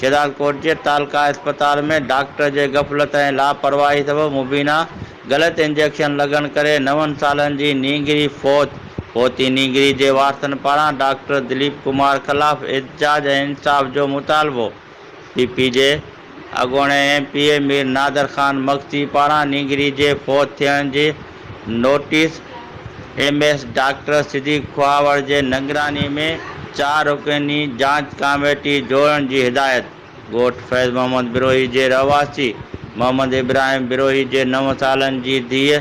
شيدادڪوٽ جي تعلقه اسپتال ۾ ڊاڪٽر جي غفلت ۽ لاپرواهي سبب مبينا غلط انجيڪشن لڳڻ ڪري نون سالن جي نينگري فوت فوتي نينگري جي وارثن پاران ڊاڪٽر دليپ ڪمار خلاف احتجاج ۽ انصاف جو مطالبو پي پي جي اڳوڻي M P A Mir Nadir Khan Magsi پاران نينگري جي فوت ٿيڻ جي notice, M S doctor Siddique Khahawar جي نگراني ۾ چار رڪني جاچ ڪاميٽي جوڙڻ جي هدايت، ڳوٺ فيض محمد بروهي جي رهواسي محمد ابراهيم بروهي جي نو سالن جي ڌيء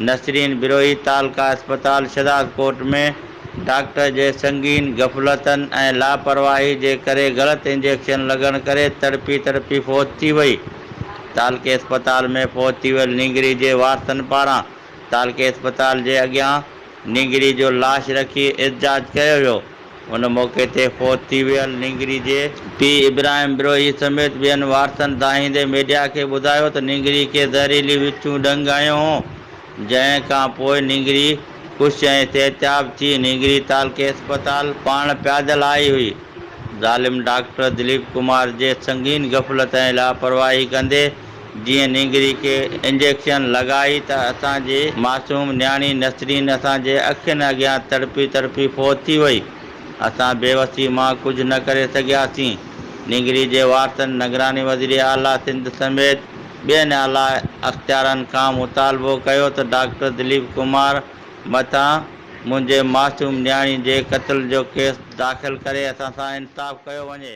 نسرين بروهي تعلقه اسپتال شهدادڪوٽ ۾ ڊاڪٽر جي سنگين غفلتن ۽ لاپرواهي جي ڪري غلط انجيڪشن لڳڻ ڪري تڙپي تڙپي فوت ٿي وئي. تعلقي اسپتال ۾ فوت ٿي ويل نينگري جي وارثن پاران تعلقي اسپتال جي اڳيان نينگري جو لاش رکي احتجاج ڪيو ويو، ان موقعي تي فوت ٿي ويل نينگري جي. پيء ابراهيم بروهي سميت ٻين وارثن دانهيندي ميڊيا کي ٻڌايو ته نينگري کي زهريلي وڇون ڏنگ هنيو هو، جنهن کان پوء نينگري خوش ۽ صحتياب ٿي نينگري تعلقي اسپتال پاڻ پيادل آئي هئي. ظالم ڊاڪٽر دليپ ڪمار جي سنگين غفلت ۽ لاپرواهي ڪندي جيئن نينگري کي انجيڪشن لڳائي ته اسان جي معصوم نياڻي نسرين اسان جي اکين اڳيان تڙپي تڙپي فوت ٿي وئي. اسان بيوسي مان ڪجهه نه ڪري سگهياسين. نينگري جي وارثن نگران وزير اعليٰ سنڌ سميت ٻين اعليٰ اختيارن کان مطالبو ڪيو ته ڊاڪٽر دليپ ڪمار مٿان منهنجي معصوم نياڻي جي قتل جو ڪيس داخل ڪري اسان سان انصاف ڪيو وڃي.